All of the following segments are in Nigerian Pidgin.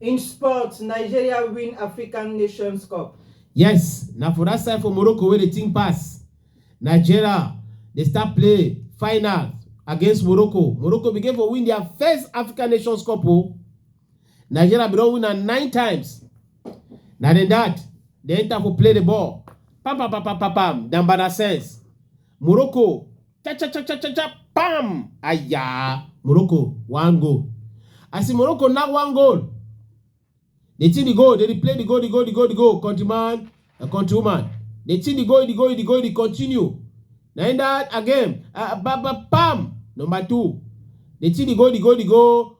In sports, Nigeria win African Nations Cup. Yes, na for that side for Morocco wey dey think pass. Nigeria dey start play final against Morocco. Morocco begin for win their first African Nations Cup o. Nigeria bin don win am nine times. Na dem dat, dem enter for play the ball. Pam pam pam pam pam pam, Dambana sense. Morocco, cha cha cha cha cha cha, pam! Aya! Morocco, one goal. As in Morocco knack one goal, dey think the goal, dey dey play the goal, the goal, the goal, the goal, countryman and countrywoman. Dey think the goal, the goal, the goal, dey continue. Na im that again, uh, ba ba pam! Number two, dey think the goal, the goal, the goal,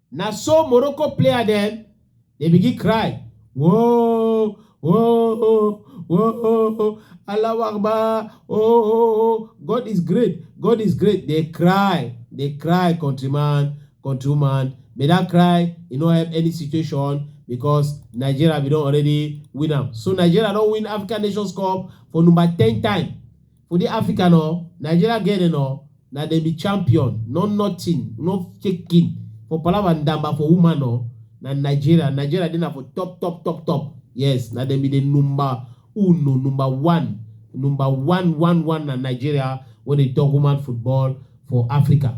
Na so Morocco player dem dey begin cry. Whoa, whoa, whoa, Allahu Akbar, oh, oh, oh, God is great, God is great. They cry, they cry, countryman, countrywoman. But that cry, e no help any situation because Nigeria we don already win am. So Nigeria don win African Nations Cup for number ten time. For the Africa no, Nigeria get it no, na dem be champion, no nothing, no shaking. For Palava Ndamba for woman no, na Nigeria, Nigeria dey na for top top top top. Yes, na dem be the number uno, number one, number one one one na Nigeria when they talk woman football for Africa.